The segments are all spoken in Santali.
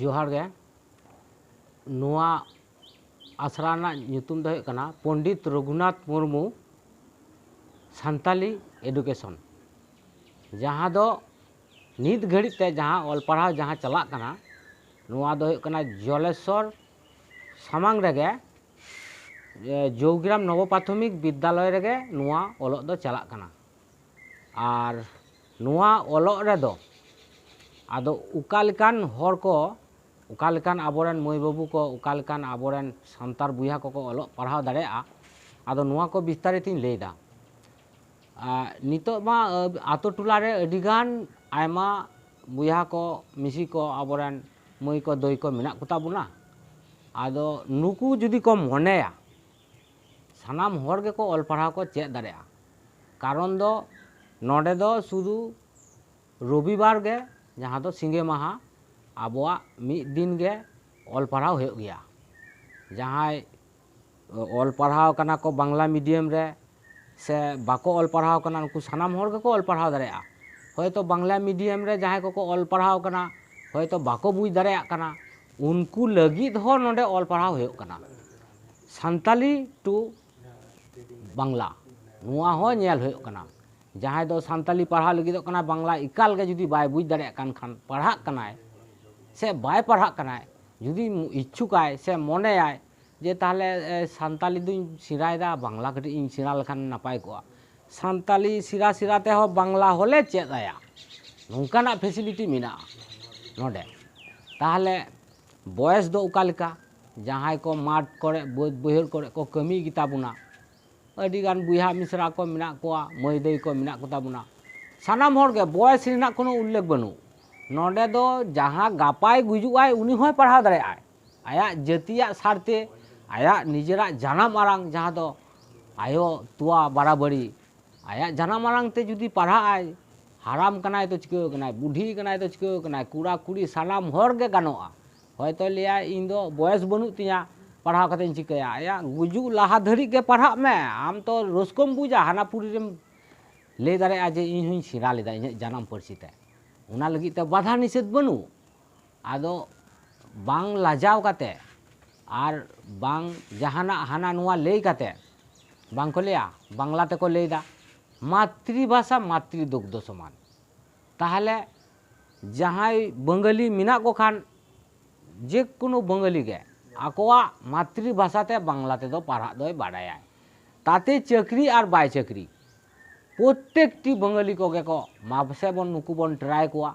ᱡᱚᱦᱟᱨ ᱜᱮ ᱱᱚᱣᱟ ᱟᱥᱲᱟ ᱨᱮᱱᱟᱜ ᱧᱩᱛᱩᱢ ᱫᱚ ᱦᱩᱭᱩᱜ ᱠᱟᱱᱟ ᱯᱚᱱᱰᱤᱛ ᱨᱚᱜᱷᱩᱱᱟᱛᱷ ᱢᱩᱨᱢᱩ ᱥᱟᱱᱛᱟᱞᱤ ᱮᱰᱩᱠᱮᱥᱚᱱ ᱡᱟᱦᱟᱸ ᱫᱚ ᱱᱤᱛ ᱜᱷᱟᱹᱲᱤᱡ ᱛᱮ ᱡᱟᱦᱟᱸ ᱚᱞ ᱯᱟᱲᱦᱟᱣ ᱡᱟᱦᱟᱸ ᱪᱟᱞᱟᱜ ᱠᱟᱱᱟ ᱱᱚᱣᱟ ᱫᱚ ᱦᱩᱭᱩᱜ ᱠᱟᱱᱟ ᱡᱚᱞᱮᱥᱚᱨ ᱥᱟᱢᱟᱝ ᱨᱮᱜᱮ ᱡᱳᱜᱽᱜᱨᱟᱢ ᱱᱚᱵᱚ ᱯᱨᱟᱛᱷᱚᱢᱤᱠ ᱵᱤᱫᱽᱫᱟᱞᱚᱭ ᱨᱮᱜᱮ ᱱᱚᱣᱟ ᱚᱞᱚᱜ ᱫᱚ ᱪᱟᱞᱟᱜ ᱠᱟᱱᱟ ᱟᱨ ᱱᱚᱣᱟ ᱚᱞᱚᱜ ᱨᱮᱫᱚ ᱟᱫᱚ ᱚᱠᱟ ᱞᱮᱠᱟᱱ ᱦᱚᱲ ᱠᱚ ᱚᱠᱟ ᱞᱮᱠᱟᱱ ᱟᱵᱚ ᱨᱮᱱ ᱢᱟᱹᱭ ᱵᱟᱹᱵᱩ ᱠᱚ ᱚᱠᱟ ᱞᱮᱠᱟᱱ ᱟᱵᱚ ᱨᱮᱱ ᱥᱟᱱᱛᱟᱲ ᱵᱚᱭᱦᱟ ᱠᱚᱠᱚ ᱚᱞᱚᱜ ᱯᱟᱲᱦᱟᱣ ᱫᱟᱲᱮᱭᱟᱜᱼᱟ ᱟᱫᱚ ᱱᱚᱣᱟ ᱠᱚ ᱵᱤᱥᱛᱟᱨᱤᱛᱤᱧ ᱞᱟᱹᱭᱫᱟ ᱱᱤᱛᱚᱜ ᱢᱟ ᱟᱛᱳ ᱴᱚᱞᱟ ᱨᱮ ᱟᱹᱰᱤ ᱜᱟᱱ ᱟᱭᱢᱟ ᱵᱚᱭᱦᱟ ᱠᱚ ᱢᱤᱥᱤ ᱠᱚ ᱟᱵᱚ ᱨᱮᱱ ᱢᱟᱹᱭ ᱠᱚ ᱫᱟᱹᱭ ᱠᱚ ᱢᱮᱱᱟᱜ ᱠᱚᱛᱟ ᱵᱚᱱᱟ ᱟᱫᱚ ᱱᱩᱠᱩ ᱡᱩᱫᱤ ᱠᱚ ᱢᱚᱱᱮᱭᱟ ᱥᱟᱱᱟᱢ ᱦᱚᱲ ᱜᱮᱠᱚ ᱚᱞ ᱯᱟᱲᱦᱟᱣ ᱠᱚ ᱪᱮᱫ ᱫᱟᱲᱮᱭᱟᱜᱼᱟ ᱠᱟᱨᱚᱱ ᱫᱚ ᱱᱚᱰᱮ ᱫᱚ ᱥᱩᱫᱩ ᱨᱚᱵᱤ ᱵᱟᱨ ᱜᱮ ᱡᱟᱦᱟᱸ ᱫᱚ ᱥᱤᱸᱜᱮ ᱢᱟᱦᱟ ᱟᱵᱚᱣᱟᱜ ᱢᱤᱫ ᱫᱤᱱ ᱜᱮ ᱚᱞ ᱯᱟᱲᱦᱟᱣ ᱦᱩᱭᱩᱜ ᱜᱮᱭᱟ ᱡᱟᱦᱟᱸᱭ ᱚᱞ ᱯᱟᱲᱦᱟᱣ ᱠᱟᱱᱟ ᱠᱚ ᱵᱟᱝᱞᱟ ᱢᱤᱰᱤᱭᱟᱢ ᱨᱮ ᱥᱮ ᱵᱟᱠᱚ ᱚᱞ ᱯᱟᱲᱦᱟᱣ ᱟᱠᱟᱱᱟ ᱱᱩᱠᱩ ᱥᱟᱱᱟᱢ ᱦᱚᱲ ᱜᱮᱠᱚ ᱚᱞ ᱯᱟᱲᱦᱟᱣ ᱫᱟᱲᱮᱭᱟᱜᱼᱟ ᱦᱚᱭᱛᱚ ᱵᱟᱝᱞᱟ ᱢᱤᱰᱤᱭᱟᱢ ᱨᱮ ᱡᱟᱦᱟᱸᱭ ᱠᱚᱠᱚ ᱚᱞ ᱯᱟᱲᱦᱟᱣ ᱟᱠᱟᱱᱟ ᱦᱚᱭᱛᱚ ᱵᱟᱠᱚ ᱵᱩᱡᱽ ᱫᱟᱲᱮᱭᱟᱜ ᱠᱟᱱᱟ ᱩᱱᱠᱩ ᱞᱟᱹᱜᱤᱫ ᱦᱚᱸ ᱱᱚᱰᱮ ᱚᱞ ᱯᱟᱲᱦᱟᱣ ᱦᱩᱭᱩᱜ ᱠᱟᱱᱟ ᱥᱟᱱᱛᱟᱞᱤ ᱴᱩ ᱵᱟᱝᱞᱟ ᱱᱚᱣᱟ ᱦᱚᱸ ᱧᱮᱞ ᱦᱩᱭᱩᱜ ᱠᱟᱱᱟ ᱡᱟᱦᱟᱸᱭ ᱫᱚ ᱥᱟᱱᱛᱟᱞᱤ ᱯᱟᱲᱦᱟᱣ ᱞᱟᱹᱜᱤᱫᱚᱜ ᱠᱟᱱᱟ ᱵᱟᱝᱞᱟ ᱮᱠᱟᱞ ᱜᱮ ᱡᱩᱫᱤ ᱵᱟᱭ ᱵᱩᱡᱽ ᱫᱟᱲᱮᱭᱟᱜ ᱠᱟᱱ ᱠᱷᱟᱱ ᱯᱟᱲᱦᱟᱜ ᱠᱟᱱᱟᱭ ᱥᱮ ᱵᱟᱭ ᱯᱟᱲᱦᱟᱜ ᱠᱟᱱᱟᱭ ᱡᱩᱫᱤ ᱤᱪᱪᱷᱩᱠᱟᱭ ᱥᱮ ᱢᱚᱱᱮᱭᱟᱭ ᱡᱮ ᱛᱟᱦᱚᱞᱮ ᱥᱟᱱᱛᱟᱞᱤ ᱫᱩᱧ ᱥᱮᱬᱟᱭᱮᱫᱟ ᱵᱟᱝᱞᱟ ᱠᱟᱹᱴᱤᱡ ᱤᱧ ᱥᱮᱬᱟ ᱞᱮᱠᱷᱟᱱ ᱱᱟᱯᱟᱭ ᱠᱚᱜᱼᱟ ᱥᱟᱱᱛᱟᱞᱤ ᱥᱮᱬᱟ ᱥᱮᱬᱟ ᱛᱮᱦᱚᱸ ᱵᱟᱝᱞᱟ ᱦᱚᱸᱞᱮ ᱪᱮᱫ ᱟᱭᱟ ᱱᱚᱝᱠᱟᱱᱟᱜ ᱯᱷᱮᱥᱤᱞᱤᱴᱤ ᱢᱮᱱᱟᱜᱼᱟ ᱱᱚᱰᱮ ᱛᱟᱦᱚᱞᱮ ᱵᱚᱭᱮᱥ ᱫᱚ ᱚᱠᱟ ᱞᱮᱠᱟ ᱡᱟᱦᱟᱸᱭ ᱠᱚ ᱢᱟᱴᱷ ᱠᱚᱨᱮ ᱵᱟᱹᱫᱽ ᱵᱟᱹᱭᱦᱟᱹᱲ ᱠᱚᱨᱮ ᱠᱚ ᱠᱟᱹᱢᱤ ᱜᱮᱛᱟ ᱵᱚᱱᱟ ᱟᱹᱰᱤ ᱜᱟᱱ ᱵᱚᱭᱦᱟ ᱢᱤᱥᱨᱟ ᱠᱚ ᱢᱮᱱᱟᱜ ᱠᱚᱣᱟ ᱢᱟᱹᱭ ᱫᱟᱹᱭ ᱠᱚ ᱢᱮᱱᱟᱜ ᱠᱚᱛᱟ ᱵᱚᱱᱟ ᱥᱟᱱᱟᱢ ᱦᱚᱲ ᱜᱮ ᱵᱚᱭᱮᱥ ᱨᱮᱱᱟᱜ ᱠᱳᱱᱳ ᱩᱞᱞᱮᱠᱷ ᱵᱟᱹᱱᱩᱜ ᱱᱚᱰᱮ ᱫᱚ ᱡᱟᱦᱟᱸᱭ ᱜᱟᱯᱟᱭ ᱜᱩᱡᱩᱜᱼᱟᱭ ᱩᱱᱤ ᱦᱚᱸᱭ ᱯᱟᱲᱦᱟᱣ ᱫᱟᱲᱮᱭᱟᱜᱼᱟᱭ ᱟᱭᱟᱜ ᱡᱟᱹᱛᱤᱭᱟᱜ ᱥᱟᱨ ᱛᱮ ᱟᱭᱟᱜ ᱱᱤᱡᱮᱨᱟᱜ ᱡᱟᱱᱟᱢ ᱟᱲᱟᱝ ᱡᱟᱦᱟᱸ ᱫᱚ ᱟᱭᱳ ᱛᱳᱣᱟ ᱵᱟᱨᱟᱵᱟᱹᱨᱤ ᱟᱭᱟᱜ ᱡᱟᱱᱟᱢ ᱟᱲᱟᱝ ᱛᱮ ᱡᱩᱫᱤ ᱯᱟᱲᱦᱟᱜ ᱟᱭ ᱦᱟᱲᱟᱢ ᱠᱟᱱᱟᱭ ᱛᱚ ᱪᱤᱠᱟᱹ ᱟᱠᱟᱱᱟᱭ ᱵᱩᱰᱷᱤ ᱟᱠᱟᱱᱟᱭ ᱛᱚ ᱪᱤᱠᱟᱹ ᱟᱠᱟᱱᱟᱭ ᱠᱚᱲᱟ ᱠᱩᱲᱤ ᱥᱟᱱᱟᱢ ᱦᱚᱲ ᱜᱮ ᱜᱟᱱᱚᱜᱼᱟ ᱦᱚᱭᱛᱚ ᱞᱟᱹᱭᱟᱭ ᱤᱧ ᱫᱚ ᱵᱚᱭᱮᱥ ᱵᱟᱹᱱᱩᱜ ᱛᱤᱧᱟ ᱯᱟᱲᱦᱟᱣ ᱠᱟᱛᱮᱧ ᱪᱤᱠᱟᱹᱭᱟ ᱟᱭᱟᱜ ᱜᱩᱡᱩᱜ ᱞᱟᱦᱟ ᱫᱷᱟᱹᱨᱤᱡ ᱜᱮ ᱯᱟᱲᱦᱟᱜ ᱢᱮ ᱟᱢ ᱛᱚ ᱨᱟᱹᱥᱠᱟᱹᱢ ᱵᱩᱡᱟ ᱦᱟᱱᱟᱯᱩᱨᱤ ᱨᱮᱢ ᱞᱟᱹᱭ ᱫᱟᱲᱮᱭᱟᱜᱼᱟ ᱡᱮ ᱤᱧ ᱦᱚᱸᱧ ᱥᱮᱬᱟ ᱞᱮᱫᱟ ᱤᱧᱟᱹᱜ ᱡᱟᱱᱟᱢ ᱯᱟᱹᱨᱥᱤ ᱛᱮ ᱚᱱᱟ ᱞᱟᱹᱜᱤᱫ ᱛᱮ ᱵᱟᱫᱷᱟ ᱱᱤᱥᱮᱫᱷ ᱵᱟᱹᱱᱩᱜ ᱟᱫᱚ ᱵᱟᱝ ᱞᱟᱡᱟᱣ ᱠᱟᱛᱮ ᱟᱨ ᱵᱟᱝ ᱡᱟᱦᱟᱱᱟᱜ ᱦᱟᱱᱟ ᱱᱚᱣᱟ ᱞᱟᱹᱭ ᱠᱟᱛᱮ ᱵᱟᱝ ᱠᱚ ᱞᱟᱹᱭᱟ ᱵᱟᱝᱞᱟ ᱛᱮᱠᱚ ᱞᱟᱹᱭ ᱮᱫᱟ ᱢᱟᱛᱨᱤ ᱵᱷᱟᱥᱟ ᱢᱟᱛᱨᱤ ᱫᱩᱜᱽᱫᱷᱚ ᱥᱚᱢᱟᱱ ᱛᱟᱦᱚᱞᱮ ᱡᱟᱦᱟᱸᱭ ᱵᱟᱝᱜᱟᱞᱤ ᱢᱮᱱᱟᱜ ᱠᱚ ᱠᱷᱟᱱ ᱡᱮ ᱠᱳᱱᱳ ᱵᱟᱝᱜᱟᱞᱤ ᱜᱮ ᱟᱠᱚᱣᱟᱜ ᱢᱟᱛᱨᱤ ᱵᱷᱟᱥᱟ ᱛᱮ ᱵᱟᱝᱞᱟ ᱛᱮᱫᱚ ᱯᱟᱲᱦᱟᱜ ᱫᱚᱭ ᱵᱟᱰᱟᱭᱟ ᱛᱟᱛᱮ ᱪᱟᱹᱠᱨᱤ ᱟᱨ ᱵᱟᱭ ᱪᱟᱹᱠᱨᱤ ᱯᱨᱚᱛᱮᱠ ᱴᱤ ᱵᱟᱝᱜᱟᱞᱤ ᱠᱚᱜᱮ ᱠᱚ ᱢᱟ ᱯᱟᱥᱮ ᱵᱚᱱ ᱱᱩᱠᱩ ᱵᱚᱱ ᱴᱨᱟᱭ ᱠᱚᱣᱟ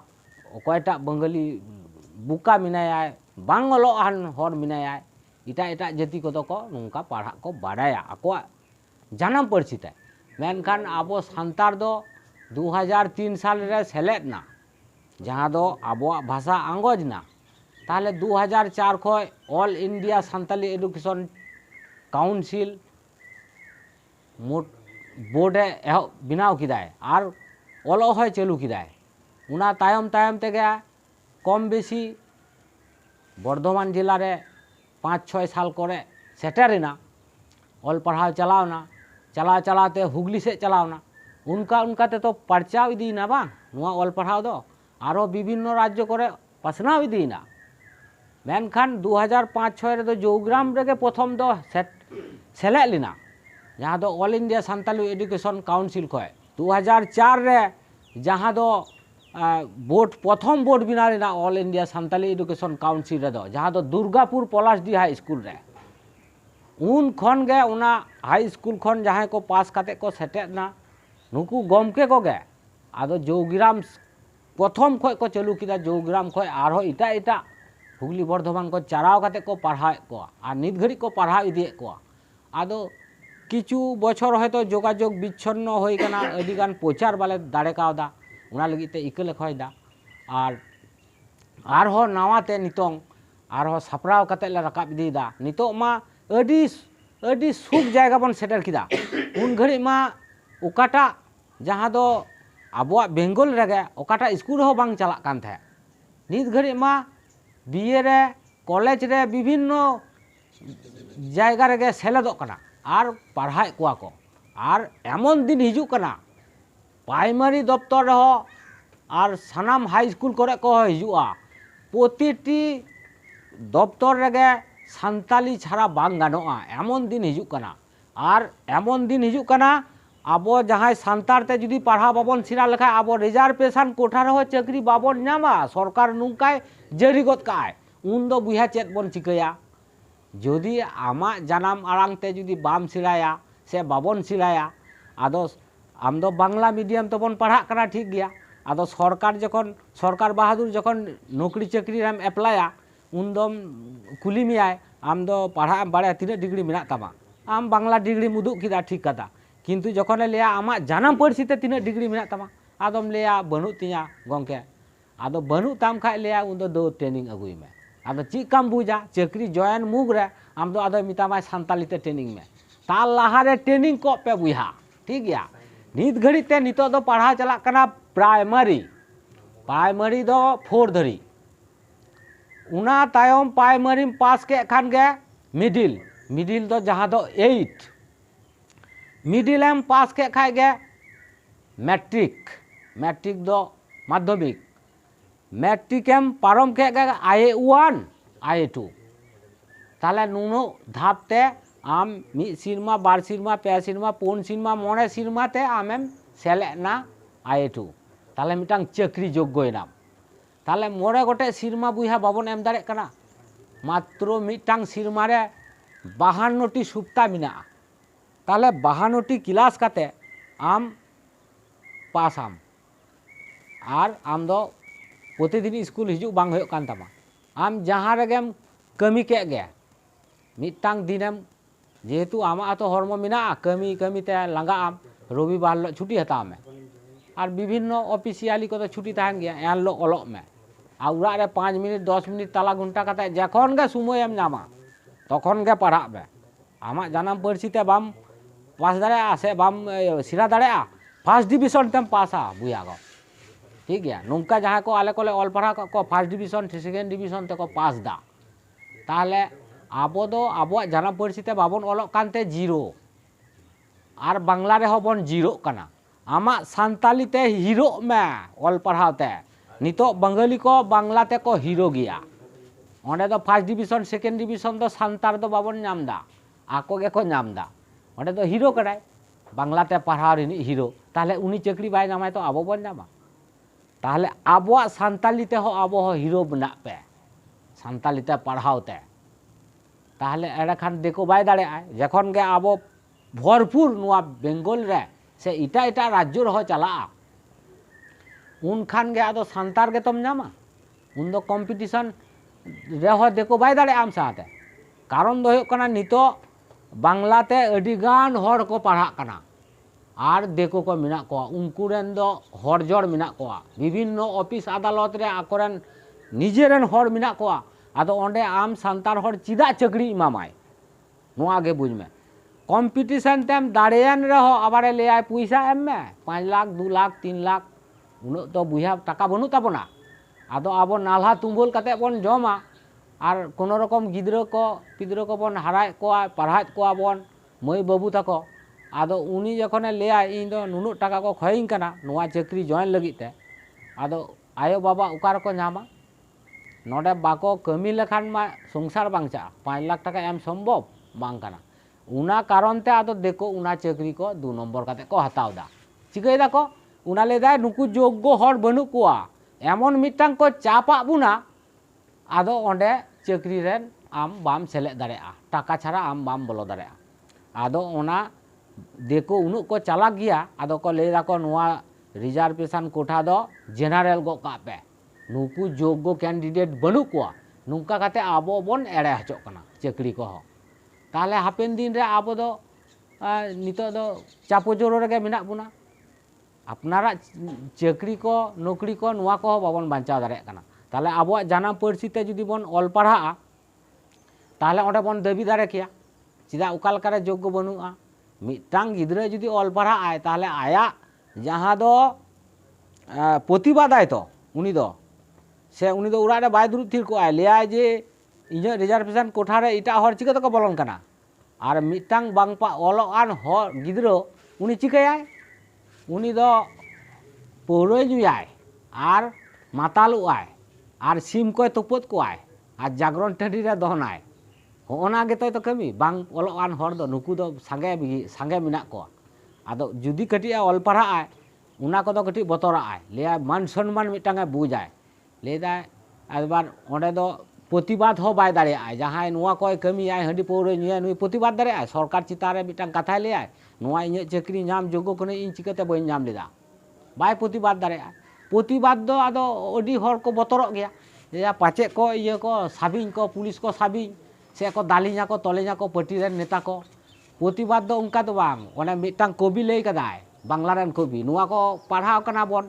ᱚᱠᱚᱭᱴᱟᱜ ᱵᱟᱝᱜᱟᱞᱤ ᱵᱚᱠᱟ ᱢᱮᱱᱟᱭᱟ ᱵᱟᱝ ᱚᱞᱚᱜ ᱟᱱ ᱦᱚᱲ ᱢᱮᱱᱟᱭᱟ ᱮᱴᱟᱜ ᱮᱴᱟᱜ ᱡᱟᱹᱛᱤ ᱠᱚᱫᱚ ᱠᱚ ᱱᱚᱝᱠᱟ ᱯᱟᱲᱦᱟᱜ ᱠᱚ ᱵᱟᱰᱟᱭᱟ ᱟᱠᱚᱣᱟᱜ ᱡᱟᱱᱟᱢ ᱯᱟᱹᱨᱥᱤ ᱛᱮ ᱢᱮᱱᱠᱷᱟᱱ ᱟᱵᱚ ᱥᱟᱱᱛᱟᱲ ᱫᱚ ᱫᱩ ᱦᱟᱡᱟᱨ ᱛᱤᱱ ᱥᱟᱞ ᱨᱮ ᱥᱮᱞᱮᱫ ᱮᱱᱟ ᱡᱟᱦᱟᱸ ᱫᱚ ᱟᱵᱚᱣᱟᱜ ᱵᱷᱟᱥᱟ ᱟᱸᱜᱚᱡᱽ ᱮᱱᱟ ᱛᱟᱦᱚᱞᱮ ᱫᱩ ᱦᱟᱡᱟᱨ ᱪᱟᱨ ᱠᱷᱚᱱ all India Santali education council ᱢᱳᱴ ᱵᱳᱨᱰ ᱮ ᱮᱦᱚᱵ ᱵᱮᱱᱟᱣ ᱠᱮᱫᱟᱭ ᱟᱨ ᱚᱞᱚᱜ ᱦᱚᱸᱭ ᱪᱟᱹᱞᱩ ᱠᱮᱫᱟᱭ ᱚᱱᱟ ᱛᱟᱭᱚᱢ ᱛᱟᱭᱚᱢ ᱛᱮᱜᱮ ᱠᱚᱢ ᱵᱮᱥᱤ ᱵᱚᱨᱫᱷᱚᱢᱟᱱ ᱡᱮᱞᱟ ᱨᱮ ᱯᱟᱸᱪ ᱪᱷᱚᱭ ᱥᱟᱞ ᱠᱚᱨᱮ ᱥᱮᱴᱮᱨ ᱮᱱᱟ ᱚᱞ ᱯᱟᱲᱦᱟᱣ ᱪᱟᱞᱟᱣ ᱮᱱᱟ ᱪᱟᱞᱟᱣ ᱪᱟᱞᱟᱣ ᱛᱮ ᱦᱩᱜᱽᱞᱤ ᱥᱮᱫ ᱪᱟᱞᱟᱣ ᱮᱱᱟ ᱚᱱᱠᱟ ᱚᱱᱠᱟ ᱛᱮᱛᱚ ᱯᱟᱨᱪᱟᱣ ᱤᱫᱤᱭᱮᱱᱟ ᱵᱟᱝ ᱱᱚᱣᱟ ᱚᱞ ᱯᱟᱲᱦᱟᱣ ᱫᱚ ᱟᱨᱦᱚᱸ ᱵᱤᱵᱷᱤᱱᱱᱚ ᱨᱟᱡᱽᱡᱚ ᱠᱚᱨᱮ ᱯᱟᱥᱱᱟᱣ ᱤᱫᱤᱭᱮᱱᱟ ᱢᱮᱱᱠᱷᱟᱱ ᱫᱩ ᱦᱟᱡᱟᱨ ᱯᱟᱸᱪ ᱪᱷᱚᱭ ᱨᱮᱫᱚ ᱡᱳᱣᱜᱨᱟᱢ ᱨᱮᱜᱮ ᱯᱨᱚᱛᱷᱚᱢ ᱫᱚ ᱥᱮᱞᱮᱫ ᱞᱮᱱᱟ ᱡᱟᱦᱟᱸ ᱫᱚ all India Santali education council ᱠᱷᱚᱱ ᱫᱩ ᱦᱟᱡᱟᱨ ᱪᱟᱨ ᱨᱮ ᱡᱟᱦᱟᱸ ᱫᱚ ᱵᱳᱨᱰ ᱯᱨᱚᱛᱷᱚᱢ ᱵᱳᱨᱰ ᱵᱮᱱᱟᱣ ᱞᱮᱱᱟ all India Santali education council ᱨᱮᱫᱚ ᱡᱟᱦᱟᱸ ᱫᱚ ᱫᱩᱨᱜᱟᱯᱩᱨ ᱯᱚᱞᱟᱥᱰᱤ ᱦᱟᱭ ᱥᱠᱩᱞ ᱨᱮ ᱩᱱ ᱠᱷᱚᱱ ᱜᱮ ᱚᱱᱟ ᱦᱟᱭ ᱥᱠᱩᱞ ᱠᱷᱚᱱ ᱡᱟᱦᱟᱸᱭ ᱠᱚ ᱯᱟᱥ ᱠᱟᱛᱮ ᱠᱚ ᱥᱮᱴᱮᱨ ᱮᱱᱟ ᱱᱩᱠᱩ ᱜᱚᱢᱠᱮ ᱠᱚᱜᱮ ᱟᱫᱚ ᱡᱳᱜᱽᱜᱨᱟᱢ ᱯᱨᱚᱛᱷᱚᱢ ᱠᱷᱚᱱ ᱠᱚ ᱪᱟᱹᱞᱩ ᱠᱮᱫᱟ ᱡᱳᱜᱽᱜᱨᱟᱢ ᱠᱷᱚᱱ ᱟᱨᱦᱚᱸ ᱮᱴᱟᱜ ᱮᱴᱟᱜ ᱦᱩᱜᱽᱞᱤ ᱵᱚᱨᱫᱷᱚᱢᱟᱱ ᱠᱚ ᱪᱟᱞᱟᱣ ᱠᱟᱛᱮ ᱠᱚ ᱯᱟᱲᱦᱟᱣᱮᱫ ᱠᱚᱣᱟ ᱟᱨ ᱱᱤᱛ ᱜᱷᱟᱹᱲᱤᱡ ᱠᱚ ᱯᱟᱲᱦᱟᱣ ᱤᱫᱤᱭᱮᱫ ᱠᱚᱣᱟ ᱟᱫᱚ ᱠᱤᱪᱷᱩ ᱵᱚᱪᱷᱚᱨ ᱦᱚᱭᱛᱳ ᱡᱳᱜᱟᱡᱳᱜᱽ ᱵᱤᱪᱪᱷᱚᱱᱱᱚ ᱦᱩᱭ ᱠᱟᱱᱟ ᱟᱹᱰᱤ ᱜᱟᱱ ᱯᱨᱚᱪᱟᱨ ᱵᱟᱞᱮ ᱫᱟᱲᱮ ᱠᱟᱣᱫᱟ ᱚᱱᱟ ᱞᱟᱹᱜᱤᱫ ᱛᱮ ᱤᱠᱟᱹ ᱞᱮ ᱠᱷᱚᱭ ᱫᱟ ᱟᱨ ᱟᱨᱦᱚᱸ ᱱᱟᱣᱟ ᱛᱮ ᱱᱤᱛᱚᱝ ᱟᱨᱦᱚᱸ ᱥᱟᱯᱲᱟᱣ ᱠᱟᱛᱮ ᱞᱮ ᱨᱟᱠᱟᱵ ᱤᱫᱤᱭᱮᱫᱟ ᱱᱤᱛᱚᱜ ᱢᱟ ᱟᱹᱰᱤ ᱟᱹᱰᱤ ᱥᱩᱠ ᱡᱟᱭᱜᱟ ᱵᱚᱱ ᱥᱮᱴᱮᱨ ᱠᱮᱫᱟ ᱩᱱ ᱜᱷᱟᱹᱲᱤᱡ ᱢᱟ ᱚᱠᱟᱴᱟᱜ ᱡᱟᱦᱟᱸ ᱫᱚ ᱟᱵᱚᱣᱟᱜ ᱵᱮᱝᱜᱚᱞ ᱨᱮᱜᱮ ᱚᱠᱟᱴᱟᱜ ᱤᱥᱠᱩᱞ ᱨᱮᱦᱚᱸ ᱵᱟᱝ ᱪᱟᱞᱟᱜ ᱠᱟᱱ ᱛᱟᱦᱮᱸᱫ ᱱᱤᱛ ᱜᱷᱟᱹᱲᱤᱡ ᱢᱟ ᱵᱤᱭᱮ ᱨᱮ ᱠᱚᱞᱮᱡᱽ ᱨᱮ ᱵᱤᱵᱷᱤᱱᱱᱚ ᱡᱟᱭᱜᱟ ᱨᱮᱜᱮ ᱥᱮᱞᱮᱫᱚᱜ ᱠᱟᱱᱟ ᱟᱨ ᱯᱟᱲᱦᱟᱣᱮᱫ ᱠᱚᱣᱟ ᱠᱚ ᱟᱨ ᱮᱢᱚᱱ ᱫᱤᱱ ᱦᱤᱡᱩᱜ ᱠᱟᱱᱟ ᱯᱨᱟᱭᱢᱟᱨᱤ ᱫᱚᱯᱛᱚᱨ ᱨᱮᱦᱚᱸ ᱟᱨ ᱥᱟᱱᱟᱢ ᱦᱟᱭ ᱤᱥᱠᱩᱞ ᱠᱚᱨᱮ ᱠᱚ ᱦᱤᱡᱩᱜᱼᱟ ᱯᱨᱚᱛᱤᱴᱤ ᱫᱚᱯᱛᱚᱨ ᱨᱮᱜᱮ ᱥᱟᱱᱛᱟᱲᱤ ᱪᱷᱟᱲᱟ ᱵᱟᱝ ᱜᱟᱱᱚᱜᱼᱟ ᱮᱢᱚᱱ ᱫᱤᱱ ᱦᱤᱡᱩᱜ ᱠᱟᱱᱟ ᱟᱨ ᱮᱢᱚᱱ ᱫᱤᱱ ᱦᱤᱡᱩᱜ ᱠᱟᱱᱟ ᱟᱵᱚ ᱡᱟᱦᱟᱸᱭ ᱥᱟᱱᱛᱟᱲ ᱛᱮ ᱡᱩᱫᱤ ᱯᱟᱲᱦᱟᱣ ᱵᱟᱵᱚᱱ ᱥᱮᱬᱟ ᱞᱮᱠᱷᱟᱱ ᱟᱵᱚ ᱨᱤᱡᱟᱨᱵᱷᱮᱥᱚᱱ ᱠᱳᱴᱟ ᱨᱮᱦᱚᱸ ᱪᱟᱹᱠᱨᱤ ᱵᱟᱵᱚᱱ ᱧᱟᱢᱟ ᱥᱚᱨᱠᱟᱨ ᱱᱚᱝᱠᱟᱭ ᱡᱟᱹᱨᱤ ᱜᱚᱫ ᱠᱟᱜ ᱟᱭ ᱩᱱ ᱫᱚ ᱵᱚᱭᱦᱟ ᱪᱮᱫ ᱵᱚᱱ ᱪᱤᱠᱟᱹᱭᱟ ᱡᱩᱫᱤ ᱟᱢᱟᱜ ᱡᱟᱱᱟᱢ ᱟᱲᱟᱝ ᱛᱮ ᱡᱩᱫᱤ ᱵᱟᱢ ᱥᱮᱬᱟᱭᱟ ᱥᱮ ᱵᱟᱵᱚᱱ ᱥᱮᱬᱟᱭᱟ ᱟᱫᱚ ᱟᱢ ᱫᱚ ᱵᱟᱝᱞᱟ ᱢᱤᱰᱤᱭᱟᱢ ᱛᱮᱵᱚᱱ ᱯᱟᱲᱦᱟᱜ ᱠᱟᱱᱟ ᱴᱷᱤᱠ ᱜᱮᱭᱟ ᱟᱫᱚ ᱥᱚᱨᱠᱟᱨ ᱡᱚᱠᱷᱚᱱ ᱥᱚᱨᱠᱟᱨ ᱵᱟᱦᱟᱫᱩᱨ ᱡᱚᱠᱷᱚᱱ ᱱᱩᱠᱨᱤ ᱪᱟᱹᱠᱨᱤ ᱨᱮᱢ ᱮᱯᱞᱟᱭᱟ ᱩᱱ ᱫᱚᱢ ᱠᱩᱞᱤ ᱢᱮᱭᱟᱭ ᱟᱢ ᱫᱚ ᱯᱟᱲᱦᱟᱜ ᱮᱢ ᱵᱟᱲᱟᱭᱟ ᱛᱤᱱᱟᱹᱜ ᱰᱤᱜᱽᱨᱤ ᱢᱮᱱᱟᱜ ᱛᱟᱢᱟ ᱟᱢ ᱵᱟᱝᱞᱟ ᱰᱤᱜᱽᱨᱤᱢ ᱩᱫᱩᱜ ᱠᱮᱫᱟ ᱴᱷᱤᱠ ᱠᱟᱛᱷᱟ ᱠᱤᱱᱛᱩ ᱡᱚᱠᱷᱚᱱᱮ ᱞᱟᱹᱭᱟ ᱟᱢᱟᱜ ᱡᱟᱱᱟᱢ ᱯᱟᱹᱨᱥᱤ ᱛᱮ ᱛᱤᱱᱟᱹᱜ ᱰᱤᱜᱽᱨᱤ ᱢᱮᱱᱟᱜ ᱛᱟᱢᱟ ᱟᱫᱚᱢ ᱞᱟᱹᱭᱟ ᱵᱟᱹᱱᱩᱜ ᱛᱤᱧᱟ ᱜᱚᱝᱠᱮ ᱟᱫᱚ ᱵᱟᱹᱱᱩᱜ ᱛᱟᱢ ᱠᱷᱟᱡ ᱞᱟᱹᱭᱟ ᱩᱱ ᱫᱚ ᱫᱟᱹᱲ ᱴᱨᱮᱱᱤᱝ ᱟᱹᱜᱩᱭ ᱢᱮ ᱟᱫᱚ ᱪᱮᱫ ᱠᱟᱢ ᱵᱩᱡᱟ ᱪᱟᱹᱠᱨᱤ ᱡᱚᱭᱮᱱ ᱢᱩᱜᱽ ᱨᱮ ᱟᱢ ᱫᱚ ᱟᱫᱚᱭ ᱢᱮᱛᱟᱢᱟᱭ ᱥᱟᱱᱛᱟᱞᱤ ᱛᱮ ᱴᱨᱮᱱᱤᱝ ᱢᱮ ᱛᱟᱨ ᱞᱟᱦᱟ ᱨᱮ ᱴᱨᱮᱱᱤᱝ ᱠᱚᱜ ᱯᱮ ᱵᱚᱭᱦᱟ ᱴᱷᱤᱠ ᱜᱮᱭᱟ ᱱᱤᱛ ᱜᱷᱟᱹᱲᱤᱡ ᱛᱮ ᱱᱤᱛᱚᱜ ᱫᱚ ᱯᱟᱲᱦᱟᱣ ᱪᱟᱞᱟᱜ ᱠᱟᱱᱟ ᱯᱨᱟᱭᱢᱟᱨᱤ ᱯᱨᱟᱭᱢᱟᱨᱤ ᱫᱚ ᱯᱷᱳᱨ ᱫᱷᱟᱹᱨᱤᱡ ᱚᱱᱟ ᱛᱟᱭᱚᱢ ᱯᱨᱟᱭᱢᱟᱨᱤᱢ ᱯᱟᱥ ᱠᱮᱫ ᱠᱷᱟᱱ ᱜᱮ ᱢᱤᱰᱤᱞ ᱢᱤᱰᱤᱞ ᱫᱚ ᱡᱟᱦᱟᱸ ᱫᱚ ᱮᱭᱤᱴ ᱢᱤᱰᱤᱞᱮᱢ ᱯᱟᱥ ᱠᱮᱫ ᱠᱷᱟᱱ ᱜᱮ ᱢᱮᱴᱨᱤᱠ ᱢᱮᱴᱨᱤᱠ ᱫᱚ ᱢᱟᱫᱽᱫᱷᱚᱢᱤᱠ ᱢᱮᱴᱨᱤᱠᱮᱢ ᱯᱟᱨᱚᱢ ᱠᱮᱫ ᱜᱮ ᱟᱭ ᱮ ᱳᱣᱟᱱ ᱟᱭ ᱮ ᱴᱩ ᱛᱟᱦᱚᱞᱮ ᱱᱩᱱᱟᱹᱜ ᱫᱷᱟᱯ ᱛᱮ ᱟᱢ ᱢᱤᱫ ᱥᱮᱨᱢᱟ ᱵᱟᱨ ᱥᱮᱨᱢᱟ ᱯᱮ ᱥᱮᱨᱢᱟ ᱯᱩᱱ ᱥᱮᱨᱢᱟ ᱢᱚᱬᱮ ᱥᱮᱨᱢᱟ ᱛᱮ ᱟᱢᱮᱢ ᱥᱮᱞᱮᱫ ᱮᱱᱟ ᱟᱭ ᱮ ᱴᱩ ᱛᱟᱦᱚᱞᱮ ᱢᱤᱫᱴᱟᱝ ᱪᱟᱹᱠᱨᱤ ᱡᱳᱜᱽᱜᱚᱭᱮᱱᱟᱢ ᱛᱟᱦᱚᱞᱮ ᱢᱚᱬᱮ ᱜᱚᱴᱮᱡ ᱥᱤᱨᱢᱟ ᱵᱚᱭᱦᱟ ᱵᱟᱵᱚᱱ ᱮᱢ ᱫᱟᱲᱮᱜ ᱠᱟᱱᱟ ᱢᱟᱛᱨᱚ ᱢᱤᱫᱴᱟᱝ ᱥᱤᱨᱢᱟ ᱨᱮ ᱵᱟᱦᱟᱱᱱᱚᱴᱤ ᱥᱚᱯᱛᱟ ᱢᱮᱱᱟᱜᱼᱟ ᱛᱟᱦᱚᱞᱮ ᱵᱟᱦᱟᱱᱱᱚᱴᱤ ᱠᱮᱞᱟᱥ ᱠᱟᱛᱮ ᱟᱢ ᱯᱟᱥᱟᱢ ᱟᱨ ᱟᱢ ᱫᱚ ᱯᱨᱚᱛᱤᱫᱤᱱ ᱥᱠᱩᱞ ᱦᱤᱡᱩᱜ ᱵᱟᱝ ᱦᱩᱭᱩᱜ ᱠᱟᱱ ᱛᱟᱢᱟ ᱟᱢ ᱡᱟᱦᱟᱸ ᱨᱮᱜᱮᱢ ᱠᱟᱹᱢᱤ ᱠᱮᱫ ᱜᱮ ᱢᱤᱫᱴᱟᱝ ᱫᱤᱱᱮᱢ ᱡᱮᱦᱮᱛᱩ ᱟᱢᱟᱜ ᱦᱚᱸᱛᱚ ᱦᱚᱲᱢᱚ ᱢᱮᱱᱟᱜᱼᱟ ᱠᱟᱹᱢᱤ ᱠᱟᱹᱢᱤ ᱛᱮ ᱞᱟᱸᱜᱟᱜ ᱟᱢ ᱨᱚᱵᱤ ᱵᱟᱨ ᱦᱤᱞᱳᱜ ᱪᱷᱩᱴᱤ ᱦᱟᱛᱟᱣ ᱢᱮ ᱟᱨ ᱵᱤᱵᱷᱤᱱᱱᱚ ᱚᱯᱷᱤᱥᱤᱭᱟᱞᱤ ᱠᱚᱫᱚ ᱪᱷᱩᱴᱤ ᱛᱟᱦᱮᱱ ᱜᱮᱭᱟ ᱮᱱ ᱦᱤᱞᱳᱜ ᱚᱞᱚᱜ ᱢᱮ ᱟᱨ ᱚᱲᱟᱜ ᱨᱮ ᱯᱟᱸᱪ ᱢᱤᱱᱤᱴ ᱫᱚᱥ ᱢᱤᱱᱤᱴ ᱛᱟᱞᱟ ᱜᱷᱚᱱᱴᱟ ᱠᱟᱛᱮ ᱡᱚᱠᱷᱚᱱ ᱜᱮ ᱥᱚᱢᱚᱭᱮᱢ ᱧᱟᱢᱟ ᱛᱚᱠᱷᱚᱱ ᱜᱮ ᱯᱟᱲᱦᱟᱜ ᱢᱮ ᱟᱢᱟᱜ ᱡᱟᱱᱟᱢ ᱯᱟᱹᱨᱥᱤ ᱛᱮ ᱵᱟᱢ ᱯᱟᱥ ᱫᱟᱲᱮᱭᱟᱜᱼᱟ ᱥᱮ ᱵᱟᱢ ᱥᱮᱬᱟ ᱫᱟᱲᱮᱭᱟᱜᱼᱟ ᱯᱷᱟᱥᱴ ᱰᱤᱵᱷᱤᱥᱚᱱ ᱛᱮᱢ ᱯᱟᱥᱟ ᱵᱚᱭᱦᱟ ᱠᱚ ᱴᱷᱤᱠ ᱜᱮᱭᱟ ᱱᱚᱝᱠᱟ ᱡᱟᱦᱟᱸᱭ ᱠᱚ ᱟᱞᱮ ᱠᱚᱞᱮ ᱚᱞ ᱯᱟᱲᱦᱟᱣ ᱠᱟᱜ ᱠᱚᱣᱟ ᱯᱷᱟᱥᱴ ᱰᱤᱵᱷᱤᱥᱚᱱ ᱥᱮᱠᱮᱱᱰ ᱰᱤᱵᱷᱤᱥᱚᱱ ᱛᱮᱠᱚ ᱯᱟᱥ ᱫᱟ ᱛᱟᱦᱚᱞᱮ ᱟᱵᱚ ᱫᱚ ᱟᱵᱚᱣᱟᱜ ᱡᱟᱱᱟᱢ ᱯᱟᱹᱨᱥᱤ ᱛᱮ ᱵᱟᱵᱚᱱ ᱚᱞᱚᱜ ᱠᱟᱱ ᱛᱮ ᱡᱤᱨᱳ ᱟᱨ ᱵᱟᱝᱞᱟ ᱨᱮᱦᱚᱸ ᱵᱚᱱ ᱡᱤᱨᱳᱜ ᱠᱟᱱᱟ ᱟᱢᱟᱜ ᱥᱟᱱᱛᱟᱞᱤ ᱛᱮ ᱦᱤᱨᱳᱜ ᱢᱮ ᱚᱞ ᱯᱟᱲᱦᱟᱣ ᱛᱮ ᱱᱤᱛᱚᱜ ᱵᱟᱝᱜᱟᱞᱤ ᱠᱚ ᱵᱟᱝᱞᱟ ᱛᱮᱠᱚ ᱦᱤᱨᱳ ᱜᱮᱭᱟ ᱚᱸᱰᱮ ᱫᱚ ᱯᱷᱟᱥᱴ ᱰᱤᱵᱷᱤᱥᱚᱱ ᱥᱮᱠᱮᱱᱰ ᱰᱤᱵᱷᱤᱥᱚᱱ ᱫᱚ ᱥᱟᱱᱛᱟᱲ ᱫᱚ ᱵᱟᱵᱚᱱ ᱧᱟᱢ ᱮᱫᱟ ᱟᱠᱚ ᱜᱮᱠᱚ ᱧᱟᱢ ᱮᱫᱟ ᱚᱸᱰᱮ ᱫᱚ ᱦᱤᱨᱳ ᱠᱟᱱᱟᱭ ᱵᱟᱝᱞᱟ ᱛᱮ ᱯᱟᱲᱦᱟᱣ ᱨᱤᱱᱤᱡ ᱦᱤᱨᱳ ᱛᱟᱦᱚᱞᱮ ᱩᱱᱤ ᱪᱟᱹᱠᱨᱤ ᱵᱟᱭ ᱧᱟᱢᱟᱭ ᱛᱚ ᱟᱵᱚ ᱵᱚᱱ ᱧᱟᱢᱟ ᱛᱟᱦᱚᱞᱮ ᱟᱵᱚᱣᱟᱜ ᱥᱟᱱᱛᱟᱞᱤ ᱛᱮᱦᱚᱸ ᱟᱵᱚ ᱦᱚᱸ ᱦᱤᱨᱳ ᱢᱮᱱᱟᱜ ᱯᱮ ᱥᱟᱱᱛᱟᱞᱤ ᱛᱮ ᱯᱟᱲᱦᱟᱣ ᱛᱮ ᱛᱟᱦᱚᱞᱮ ᱮᱸᱰᱮ ᱠᱷᱟᱱ ᱫᱤᱠᱩ ᱵᱟᱭ ᱫᱟᱲᱮᱭᱟᱜᱼᱟ ᱡᱚᱠᱷᱚᱱ ᱜᱮ ᱟᱵᱚ ᱵᱷᱚᱨᱯᱩᱨ ᱱᱚᱣᱟ ᱵᱮᱝᱜᱚᱞ ᱨᱮ ᱥᱮ ᱮᱴᱟᱜ ᱮᱴᱟᱜ ᱨᱟᱡᱽᱡᱚ ᱨᱮᱦᱚᱸ ᱪᱟᱞᱟᱜᱼᱟ ᱩᱱᱠᱷᱟᱱ ᱜᱮ ᱟᱫᱚ ᱥᱟᱱᱛᱟᱲ ᱜᱮᱛᱚᱢ ᱧᱟᱢᱟ ᱩᱱ ᱫᱚ ᱠᱚᱢᱯᱤᱴᱤᱥᱚᱱ ᱨᱮᱦᱚᱸ ᱫᱤᱠᱩ ᱵᱟᱭ ᱫᱟᱲᱮᱭᱟᱜᱼᱟ ᱟᱢ ᱥᱟᱶᱛᱮ ᱠᱟᱨᱚᱱ ᱫᱚ ᱦᱩᱭᱩᱜ ᱠᱟᱱᱟ ᱱᱤᱛᱚᱜ ᱵᱟᱝᱞᱟᱛᱮ ᱟᱹᱰᱤ ᱜᱟᱱ ᱦᱚᱲ ᱠᱚ ᱯᱟᱲᱦᱟᱜ ᱠᱟᱱᱟ ᱟᱨ ᱫᱮᱠᱳ ᱠᱚ ᱢᱮᱱᱟᱜ ᱠᱚᱣᱟ ᱩᱱᱠᱩ ᱨᱮᱱ ᱫᱚ ᱦᱚᱲ ᱡᱚᱲ ᱢᱮᱱᱟᱜ ᱠᱚᱣᱟ ᱵᱤᱵᱷᱤᱱᱱᱚ ᱚᱯᱷᱤᱥ ᱟᱫᱟᱞᱚᱛ ᱨᱮ ᱟᱠᱚ ᱨᱮᱱ ᱱᱤᱡᱮ ᱨᱮᱱ ᱦᱚᱲ ᱢᱮᱱᱟᱜ ᱠᱚᱣᱟ ᱟᱫᱚ ᱚᱸᱰᱮ ᱟᱢ ᱥᱟᱱᱛᱟᱲ ᱦᱚᱲ ᱪᱮᱫᱟᱜ ᱪᱟᱹᱠᱨᱤ ᱮᱢᱟᱢᱟᱭ ᱱᱚᱣᱟ ᱜᱮ ᱵᱩᱡᱽ ᱢᱮ ᱠᱚᱢᱯᱤᱴᱤᱥᱚᱱ ᱛᱮᱢ ᱫᱟᱲᱮᱭᱮᱱ ᱨᱮᱦᱚᱸ ᱟᱵᱟᱨ ᱮ ᱞᱟᱹᱭᱟᱭ ᱯᱚᱭᱥᱟ ᱮᱢ ᱢᱮ ᱯᱟᱸᱪ ᱞᱟᱠᱷ ᱫᱩ ᱞᱟᱠᱷ ᱛᱤᱱ ᱞᱟᱠᱷ ᱩᱱᱟᱹᱜ ᱛᱚ ᱵᱚᱭᱦᱟ ᱴᱟᱠᱟ ᱵᱟᱹᱱᱩᱜ ᱛᱟᱵᱚᱱᱟ ᱟᱫᱚ ᱟᱵᱚ ᱱᱟᱞᱦᱟ ᱛᱩᱢᱟᱹᱞ ᱠᱟᱛᱮ ᱵᱚᱱ ᱡᱚᱢᱟ ᱟᱨ ᱠᱳᱱᱳ ᱨᱚᱠᱚᱢ ᱜᱤᱫᱽᱨᱟᱹ ᱠᱚ ᱯᱤᱫᱽᱨᱟᱹ ᱠᱚᱵᱚᱱ ᱦᱟᱨᱟᱭᱮᱫ ᱠᱚᱣᱟ ᱯᱟᱲᱦᱟᱣᱮᱫ ᱠᱚᱣᱟ ᱵᱚᱱ ᱢᱟᱹᱭ ᱵᱟᱹᱵᱩ ᱛᱟᱠᱚ ᱟᱫᱚ ᱩᱱᱤ ᱡᱚᱠᱷᱚᱱᱮ ᱞᱟᱹᱭᱟᱭ ᱤᱧ ᱫᱚ ᱱᱩᱱᱟᱹᱜ ᱴᱟᱠᱟ ᱠᱚ ᱠᱷᱚᱭᱤᱧ ᱠᱟᱱᱟ ᱱᱚᱣᱟ ᱪᱟᱹᱠᱨᱤ ᱡᱚᱭᱮᱱ ᱞᱟᱹᱜᱤᱫ ᱛᱮ ᱟᱫᱚ ᱟᱭᱳ ᱵᱟᱵᱟ ᱚᱠᱟ ᱨᱮᱠᱚ ᱧᱟᱢᱟ ᱱᱚᱰᱮ ᱵᱟᱠᱚ ᱠᱟᱹᱢᱤ ᱞᱮᱠᱷᱟᱱ ᱢᱟ ᱥᱚᱝᱥᱟᱨ ᱵᱟᱝ ᱪᱟᱜᱼᱟ ᱯᱟᱸᱪ ᱞᱟᱠᱷ ᱴᱟᱠᱟ ᱮᱢ ᱥᱚᱢᱵᱷᱚᱵ ᱵᱟᱝ ᱠᱟᱱᱟ ᱚᱱᱟ ᱠᱟᱨᱚᱱ ᱛᱮ ᱟᱫᱚ ᱫᱮᱠᱚ ᱚᱱᱟ ᱪᱟᱹᱠᱨᱤ ᱠᱚ ᱫᱩ ᱱᱚᱢᱵᱚᱨ ᱠᱟᱛᱮ ᱠᱚ ᱦᱟᱛᱟᱣ ᱮᱫᱟ ᱪᱤᱠᱟᱹᱭ ᱫᱟᱠᱚ ᱚᱱᱟ ᱞᱟᱹᱭ ᱫᱟᱭ ᱱᱩᱠᱩ ᱡᱳᱜᱽᱜᱚ ᱦᱚᱲ ᱵᱟᱹᱱᱩᱜ ᱠᱚᱣᱟ ᱮᱢᱚᱱ ᱢᱤᱫᱴᱟᱝ ᱠᱚ ᱪᱟᱯ ᱟᱫ ᱵᱚᱱᱟ ᱟᱫᱚ ᱚᱸᱰᱮ ᱪᱟᱹᱠᱨᱤ ᱨᱮ ᱟᱢ ᱵᱟᱢ ᱥᱮᱞᱮᱫ ᱫᱟᱲᱮᱭᱟᱜᱼᱟ ᱴᱟᱠᱟ ᱪᱷᱟᱲᱟ ᱟᱢ ᱵᱟᱢ ᱵᱚᱞᱚ ᱫᱟᱲᱮᱭᱟᱜᱼᱟ ᱟᱫᱚ ᱚᱱᱟ ᱫᱮᱠᱳ ᱩᱱᱟᱹᱜ ᱠᱚ ᱪᱟᱞᱟᱠ ᱜᱮᱭᱟ ᱟᱫᱚ ᱠᱚ ᱞᱟᱹᱭ ᱫᱟᱠᱚ ᱱᱚᱣᱟ ᱨᱤᱡᱟᱨᱵᱷᱮᱥᱚᱱ ᱠᱳᱴᱟ ᱫᱚ ᱡᱮᱱᱟᱨᱮᱞ ᱜᱚᱫ ᱠᱟᱜ ᱯᱮ ᱱᱩᱠᱩ ᱡᱳᱜᱽᱜᱚ ᱠᱮᱱᱰᱤᱰᱮᱴ ᱵᱟᱹᱱᱩᱜ ᱠᱚᱣᱟ ᱱᱚᱝᱠᱟ ᱠᱟᱛᱮ ᱟᱵᱚ ᱵᱚᱱ ᱮᱲᱮ ᱦᱚᱪᱚᱜ ᱠᱟᱱᱟ ᱪᱟᱹᱠᱨᱤ ᱠᱚᱦᱚᱸ ᱛᱟᱦᱚᱞᱮ ᱦᱟᱯᱮᱱ ᱫᱤᱱ ᱨᱮ ᱟᱵᱚ ᱫᱚ ᱱᱤᱛᱚᱜ ᱫᱚ ᱪᱟᱯᱚ ᱡᱚᱲᱚ ᱨᱮᱜᱮ ᱢᱮᱱᱟᱜ ᱵᱚᱱᱟ ᱟᱯᱱᱟᱨᱟᱜ ᱪᱟᱹᱠᱨᱤ ᱠᱚ ᱱᱚᱠᱨᱤ ᱠᱚ ᱱᱚᱣᱟ ᱠᱚᱦᱚᱸ ᱵᱟᱵᱚᱱ ᱵᱟᱧᱪᱟᱣ ᱫᱟᱲᱮᱭᱟᱜ ᱠᱟᱱᱟ ᱛᱟᱦᱚᱞᱮ ᱟᱵᱚᱣᱟᱜ ᱡᱟᱱᱟᱢ ᱯᱟᱹᱨᱥᱤ ᱛᱮ ᱡᱩᱫᱤ ᱵᱚᱱ ᱚᱞ ᱯᱟᱲᱦᱟᱜᱼᱟ ᱛᱟᱦᱚᱞᱮ ᱚᱸᱰᱮ ᱵᱚᱱ ᱫᱟᱹᱵᱤ ᱫᱟᱲᱮ ᱠᱮᱭᱟ ᱪᱮᱫᱟᱜ ᱚᱠᱟ ᱞᱮᱠᱟᱨᱮ ᱡᱳᱜᱽᱜᱚ ᱵᱟᱹᱱᱩᱜᱼᱟ ᱢᱤᱫᱴᱟᱝ ᱜᱤᱫᱽᱨᱟᱹ ᱡᱩᱫᱤ ᱚᱞ ᱯᱟᱲᱦᱟᱜ ᱟᱭ ᱛᱟᱦᱚᱞᱮ ᱟᱭᱟᱜ ᱡᱟᱦᱟᱸ ᱫᱚ ᱯᱨᱚᱛᱤᱵᱟᱫᱟᱭ ᱛᱚ ᱩᱱᱤ ᱫᱚ ᱥᱮ ᱩᱱᱤ ᱫᱚ ᱚᱲᱟᱜ ᱨᱮ ᱵᱟᱭ ᱫᱩᱲᱩᱵ ᱛᱷᱤᱨ ᱠᱚᱜᱼᱟᱭ ᱞᱟᱹᱭᱟᱭ ᱡᱮ ᱤᱧᱟᱹᱜ ᱨᱤᱡᱟᱨᱵᱷᱮᱥᱚᱱ ᱠᱳᱴᱷᱟ ᱨᱮ ᱮᱴᱟᱜ ᱦᱚᱲ ᱪᱤᱠᱟᱹ ᱛᱮᱠᱚ ᱵᱚᱞᱚᱱ ᱠᱟᱱᱟ ᱟᱨ ᱢᱤᱫᱴᱟᱝ ᱵᱟᱝ ᱯᱟ ᱚᱞᱚᱜ ᱟᱱ ᱦᱚᱲ ᱜᱤᱫᱽᱨᱟᱹ ᱩᱱᱤ ᱪᱤᱠᱟᱹᱭᱟᱭ ᱩᱱᱤ ᱫᱚ ᱯᱟᱹᱣᱨᱟᱹᱭ ᱧᱩᱭᱟᱭ ᱟᱨ ᱢᱟᱛᱟᱞᱚᱜ ᱟᱭ ᱟᱨ ᱥᱤᱢ ᱠᱚᱭ ᱛᱩᱯᱟᱹᱫ ᱠᱚᱣᱟᱭ ᱟᱨ ᱡᱟᱜᱽᱨᱚᱱ ᱴᱟᱺᱰᱤ ᱨᱮ ᱫᱚᱱᱟᱭ ᱦᱚᱸᱜᱼᱚᱱᱟ ᱜᱮ ᱛᱟᱭ ᱫᱚ ᱠᱟᱹᱢᱤ ᱵᱟᱝ ᱚᱞᱚᱜ ᱟᱱ ᱦᱚᱲ ᱫᱚ ᱱᱩᱠᱩ ᱫᱚ ᱥᱟᱸᱜᱮ ᱥᱟᱸᱜᱮ ᱢᱮᱱᱟᱜ ᱠᱚᱣᱟ ᱟᱫᱚ ᱡᱩᱫᱤ ᱠᱟᱹᱴᱤᱡ ᱮ ᱚᱞ ᱯᱟᱲᱦᱟᱜ ᱟᱭ ᱚᱱᱟ ᱠᱚᱫᱚ ᱠᱟᱹᱴᱤᱡ ᱵᱚᱛᱚᱨᱟᱜ ᱟᱭ ᱞᱟᱹᱭᱟᱭ ᱢᱟᱱ ᱥᱚᱱᱢᱟᱱ ᱢᱤᱫᱴᱟᱝ ᱮ ᱵᱩᱡᱟᱭ ᱞᱟᱹᱭ ᱮᱫᱟᱭ ᱟᱵᱟᱨ ᱚᱸᱰᱮ ᱫᱚ ᱯᱨᱚᱛᱤᱵᱟᱫᱽ ᱦᱚᱸ ᱵᱟᱭ ᱫᱟᱲᱮᱭᱟᱜᱼᱟ ᱡᱟᱦᱟᱸᱭ ᱱᱚᱣᱟ ᱠᱚᱭ ᱠᱟᱹᱢᱤᱭᱟᱭ ᱦᱟᱺᱰᱤ ᱯᱟᱹᱣᱨᱟᱹᱭ ᱧᱩᱭᱟᱭ ᱱᱩᱭ ᱯᱨᱚᱛᱤᱵᱟᱫᱽ ᱫᱟᱲᱮᱭᱟᱜᱼᱟᱭ ᱥᱚᱨᱠᱟᱨ ᱪᱮᱛᱟᱱ ᱨᱮ ᱢᱤᱫᱴᱟᱝ ᱠᱟᱛᱷᱟᱭ ᱞᱟᱹᱭᱟᱭ ᱱᱚᱣᱟ ᱤᱧᱟᱹᱜ ᱪᱟᱹᱠᱨᱤ ᱧᱟᱢ ᱡᱳᱜᱽᱜᱚ ᱠᱟᱹᱱᱟᱹᱧ ᱤᱧ ᱪᱤᱠᱟᱹᱛᱮ ᱵᱟᱹᱧ ᱧᱟᱢ ᱞᱮᱫᱟ ᱵᱟᱭ ᱯᱨᱚᱛᱤᱵᱟᱫᱽ ᱫᱟᱲᱮᱭᱟᱜᱼᱟ ᱯᱨᱚᱛᱤᱵᱟᱫᱽ ᱫᱚ ᱟᱫᱚ ᱟᱹᱰᱤ ᱦᱚᱲ ᱠᱚ ᱵᱚᱛᱚᱨᱚᱜ ᱜᱮᱭᱟ ᱞᱟᱹᱭᱟ ᱯᱟᱪᱮᱫ ᱠᱚ ᱤᱭᱟᱹ ᱠᱚ ᱥᱟᱵᱤᱧ ᱠᱚ ᱯᱩᱞᱤᱥ ᱠᱚ ᱥᱟᱵᱤᱧ ᱥᱮ ᱠᱚ ᱫᱟᱞᱤᱧᱟ ᱠᱚ ᱛᱚᱞᱤᱧᱟ ᱠᱚ ᱯᱟᱹᱴᱤ ᱨᱮᱱ ᱱᱮᱛᱟ ᱠᱚ ᱯᱨᱚᱛᱤᱵᱟᱫᱽ ᱫᱚ ᱚᱱᱠᱟ ᱫᱚ ᱵᱟᱝ ᱚᱱᱮ ᱢᱤᱫᱴᱟᱝ ᱠᱚᱵᱤ ᱞᱟᱹᱭ ᱠᱟᱫᱟᱭ ᱵᱟᱝᱞᱟ ᱨᱮᱱ ᱠᱚᱵᱤ ᱱᱚᱣᱟ ᱠᱚ ᱯᱟᱲᱦᱟᱣ ᱠᱟᱱᱟ ᱵᱚᱱ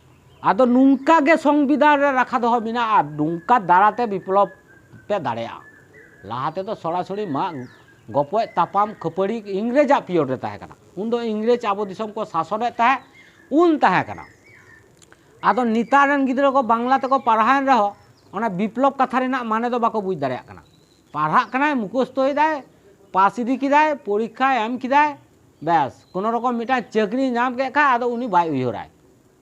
ᱟᱫᱚ ᱱᱚᱝᱠᱟ ᱜᱮ ᱥᱚᱝᱵᱤᱫᱷᱟᱱ ᱨᱮ ᱨᱟᱠᱷᱟ ᱫᱚᱦᱚ ᱢᱮᱱᱟᱜᱼᱟ ᱱᱚᱝᱠᱟ ᱫᱟᱨᱟᱛᱮ ᱵᱤᱯᱞᱚᱵᱽ ᱯᱮ ᱫᱟᱲᱮᱭᱟᱜᱼᱟ ᱞᱟᱦᱟ ᱛᱮᱫᱚ ᱥᱚᱲᱟᱥᱚᱲᱤ ᱢᱟᱜ ᱜᱚᱯᱚᱡ ᱛᱟᱯᱟᱢ ᱠᱷᱟᱹᱯᱟᱹᱨᱤ ᱤᱝᱨᱮᱡᱟᱜ ᱯᱤᱭᱚᱰ ᱨᱮ ᱛᱟᱦᱮᱸ ᱠᱟᱱᱟ ᱩᱱ ᱫᱚ ᱤᱝᱨᱮᱡᱽ ᱟᱵᱚ ᱫᱤᱥᱚᱢ ᱠᱚ ᱥᱟᱥᱚᱱᱮᱫ ᱛᱟᱦᱮᱸᱫ ᱩᱱ ᱛᱟᱦᱮᱸ ᱠᱟᱱᱟ ᱟᱫᱚ ᱱᱮᱛᱟᱨ ᱨᱮᱱ ᱜᱤᱫᱽᱨᱟᱹ ᱠᱚ ᱵᱟᱝᱞᱟ ᱛᱮᱠᱚ ᱯᱟᱲᱦᱟᱣᱮᱱ ᱨᱮᱦᱚᱸ ᱚᱱᱟ ᱵᱤᱯᱞᱚᱵᱽ ᱠᱟᱛᱷᱟ ᱨᱮᱱᱟᱜ ᱢᱟᱱᱮ ᱫᱚ ᱵᱟᱠᱚ ᱵᱩᱡᱽ ᱫᱟᱲᱮᱭᱟᱜ ᱠᱟᱱᱟ ᱯᱟᱲᱦᱟᱜ ᱠᱟᱱᱟᱭ ᱢᱩᱠᱷᱚᱥᱛᱚᱭᱮᱫᱟᱭ ᱯᱟᱥ ᱤᱫᱤ ᱠᱮᱫᱟᱭ ᱯᱚᱨᱤᱠᱠᱷᱟ ᱮᱢ ᱠᱮᱫᱟᱭ ᱵᱮᱥ ᱠᱳᱱᱳ ᱨᱚᱠᱚᱢ ᱢᱤᱫᱴᱟᱝ ᱪᱟᱹᱠᱨᱤ ᱧᱟᱢ ᱠᱮᱫ ᱠᱷᱟᱱ ᱟᱫᱚ ᱩᱱᱤ ᱵᱟᱭ ᱩᱭᱦᱟᱹᱨᱟᱭ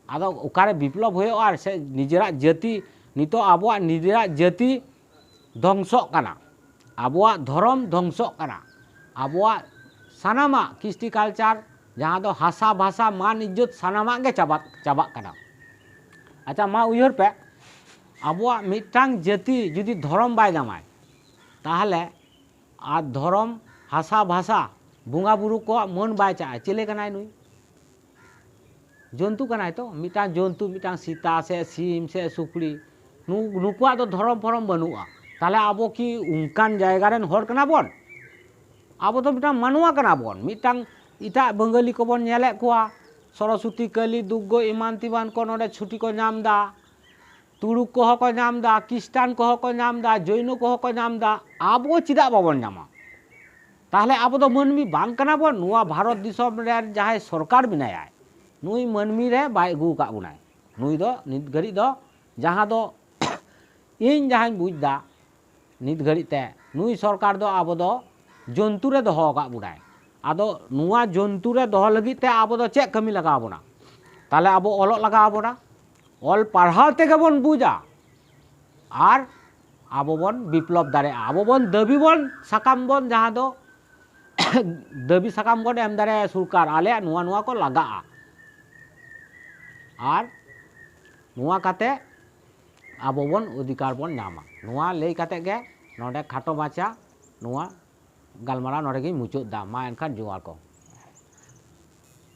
ᱟᱫᱚ ᱚᱠᱟᱨᱮ ᱵᱤᱯᱞᱚᱵ ᱦᱩᱭᱩᱜᱼᱟ ᱟᱨ ᱥᱮ ᱱᱤᱡᱮᱨᱟᱜ ᱡᱟᱹᱛᱤ ᱱᱤᱛᱚᱜ ᱟᱵᱚᱣᱟᱜ ᱱᱤᱡᱮᱨᱟᱜ ᱡᱟᱹᱛᱤ ᱫᱷᱚᱝᱥᱚᱜ ᱠᱟᱱᱟ ᱟᱵᱚᱣᱟᱜ ᱫᱷᱚᱨᱚᱢ ᱫᱷᱚᱝᱥᱚᱜ ᱠᱟᱱᱟ ᱟᱵᱚᱣᱟᱜ ᱥᱟᱱᱟᱢᱟᱜ ᱠᱤᱥᱴᱤ ᱠᱟᱞᱪᱟᱨ ᱡᱟᱦᱟᱸ ᱫᱚ ᱦᱟᱥᱟ ᱵᱷᱟᱥᱟ ᱢᱟᱱ ᱤᱡᱽᱡᱚᱛ ᱥᱟᱱᱟᱢᱟᱜ ᱜᱮ ᱪᱟᱵᱟᱜ ᱪᱟᱵᱟᱜ ᱠᱟᱱᱟ ᱟᱪᱪᱷᱟ ᱢᱟ ᱩᱭᱦᱟᱹᱨ ᱯᱮ ᱟᱵᱚᱣᱟᱜ ᱢᱤᱫᱴᱟᱝ ᱡᱟᱹᱛᱤ ᱡᱩᱫᱤ ᱫᱷᱚᱨᱚᱢ ᱵᱟᱭ ᱫᱟᱢᱟᱭ ᱛᱟᱦᱚᱞᱮ ᱟᱨ ᱫᱷᱚᱨᱚᱢ, ᱦᱟᱥᱟ, ᱵᱷᱟᱥᱟ, ᱵᱚᱸᱜᱟ ᱵᱩᱨᱩ ᱠᱚᱣᱟᱜ ᱢᱟᱹᱱ ᱵᱟᱭ ᱪᱟᱜᱼᱟ᱾ ᱪᱮᱞᱮ ᱠᱟᱱᱟᱭ ᱱᱩᱭ? ᱡᱚᱱᱛᱩ ᱠᱟᱱᱟᱭ ᱛᱚ᱾ ᱢᱤᱫᱴᱟᱝ ᱡᱚᱱᱛᱩ ᱢᱤᱫᱴᱟᱝ ᱥᱮᱛᱟ ᱥᱮ ᱥᱤᱢ ᱥᱮ ᱥᱩᱠᱨᱤ ᱱᱩᱠᱩᱣᱟᱜ ᱫᱚ ᱫᱷᱚᱨᱚᱢ ᱯᱷᱚᱨᱚᱢ ᱵᱟᱹᱱᱩᱜᱼᱟ᱾ ᱛᱟᱦᱚᱞᱮ ᱟᱵᱚ ᱠᱤ ᱚᱱᱠᱟᱱ ᱡᱟᱭᱜᱟ ᱨᱮᱱ ᱦᱚᱲ ᱠᱟᱱᱟ ᱵᱚᱱ? ᱟᱵᱚ ᱫᱚ ᱢᱤᱫᱴᱟᱝ ᱢᱟᱱᱣᱟ ᱠᱟᱱᱟ ᱵᱚᱱ᱾ ᱢᱤᱫᱴᱟᱝ ᱮᱴᱟᱜ ᱵᱟᱹᱝᱜᱟᱹᱞᱤ ᱠᱚᱵᱚᱱ ᱧᱮᱞᱮᱫ ᱠᱚᱣᱟ ᱥᱚᱨᱚᱥᱚᱛᱤ, ᱠᱟᱹᱞᱤ, ᱫᱩᱜᱜᱚ ᱮᱢᱟᱱ ᱛᱮᱢᱟᱱ ᱠᱚ ᱱᱚᱰᱮ ᱪᱷᱩᱴᱤ ᱠᱚ ᱧᱟᱢ ᱮᱫᱟ᱾ ᱛᱩᱲᱩᱠ ᱠᱚ ᱦᱚᱸ ᱠᱚ ᱧᱟᱢ ᱮᱫᱟ ᱠᱤᱥᱴᱟᱱ ᱠᱚ ᱦᱚᱸ ᱠᱚ ᱧᱟᱢ ᱮᱫᱟ ᱡᱚᱭᱱᱚ ᱠᱚ ᱦᱚᱸ ᱠᱚ ᱧᱟᱢ ᱮᱫᱟ ᱟᱵᱚ ᱪᱮᱫᱟᱜ ᱵᱟᱵᱚᱱ ᱧᱟᱢᱟ ᱛᱟᱦᱚᱞᱮ ᱟᱵᱚ ᱫᱚ ᱢᱟᱹᱱᱢᱤ ᱵᱟᱝ ᱠᱟᱱᱟ ᱵᱚᱱ ᱱᱚᱣᱟ ᱵᱷᱟᱨᱚᱛ ᱫᱤᱥᱚᱢ ᱨᱮ ᱡᱟᱦᱟᱸᱭ ᱥᱚᱨᱠᱟᱨ ᱢᱮᱱᱟᱭᱟ ᱱᱩᱭ ᱢᱟᱹᱱᱢᱤ ᱨᱮ ᱵᱟᱭ ᱟᱹᱜᱩ ᱟᱠᱟᱫ ᱵᱚᱱᱟᱭ ᱱᱩᱭ ᱫᱚ ᱱᱤᱛ ᱜᱷᱟᱹᱲᱤᱡ ᱫᱚ ᱡᱟᱦᱟᱸ ᱫᱚ ᱤᱧ ᱡᱟᱦᱟᱸᱧ ᱵᱩᱡᱽ ᱮᱫᱟ ᱱᱤᱛ ᱜᱷᱟᱹᱲᱤᱡ ᱛᱮ ᱱᱩᱭ ᱥᱚᱨᱠᱟᱨ ᱫᱚ ᱟᱵᱚ ᱫᱚ ᱡᱚᱱᱛᱩ ᱨᱮ ᱫᱚᱦᱚ ᱟᱠᱟᱫ ᱵᱚᱱᱟᱭ ᱟᱫᱚ ᱱᱚᱣᱟ ᱡᱚᱱᱛᱩ ᱨᱮ ᱫᱚᱦᱚ ᱞᱟᱹᱜᱤᱫ ᱛᱮ ᱟᱵᱚ ᱫᱚ ᱪᱮᱫ ᱠᱟᱹᱢᱤ ᱞᱟᱜᱟᱣ ᱵᱚᱱᱟ ᱛᱟᱦᱚᱞᱮ ᱟᱵᱚ ᱚᱞᱚᱜ ᱞᱟᱜᱟᱣ ᱵᱚᱱᱟ ᱚᱞ ᱯᱟᱲᱦᱟᱣ ᱛᱮᱜᱮ ᱵᱚᱱ ᱵᱩᱡᱟ ᱟᱨ ᱟᱵᱚ ᱵᱚᱱ ᱵᱤᱯᱞᱚᱵᱽ ᱫᱟᱲᱮᱭᱟᱜᱼᱟ ᱟᱵᱚ ᱵᱚᱱ ᱫᱟᱹᱵᱤ ᱵᱚᱱ ᱥᱟᱠᱟᱢ ᱵᱚᱱ ᱡᱟᱦᱟᱸ ᱫᱚ ᱫᱟᱹᱵᱤ ᱥᱟᱠᱟᱢ ᱵᱚᱱ ᱮᱢ ᱫᱟᱲᱮᱭᱟᱜᱼᱟ ᱥᱚᱨᱠᱟᱨ ᱟᱞᱮᱭᱟᱜ ᱱᱚᱣᱟ ᱱᱚᱣᱟ ᱠᱚ ᱞᱟᱜᱟᱜᱼᱟ ᱟᱨ ᱱᱚᱣᱟ ᱠᱟᱛᱮ ᱟᱵᱚ ᱵᱚᱱ ᱚᱫᱷᱤᱠᱟᱨ ᱵᱚᱱ ᱧᱟᱢᱟ ᱱᱚᱣᱟ ᱞᱟᱹᱭ ᱠᱟᱛᱮ ᱜᱮ ᱱᱚᱰᱮ ᱠᱷᱟᱴᱚ ᱢᱟᱪᱟ ᱱᱚᱣᱟ ᱜᱟᱞᱢᱟᱨᱟᱣ ᱱᱚᱰᱮ ᱜᱤᱧ ᱢᱩᱪᱟᱹᱫ ᱮᱫᱟ ᱢᱟ ᱮᱱᱠᱷᱟᱱ ᱡᱚᱦᱟᱨ ᱠᱚ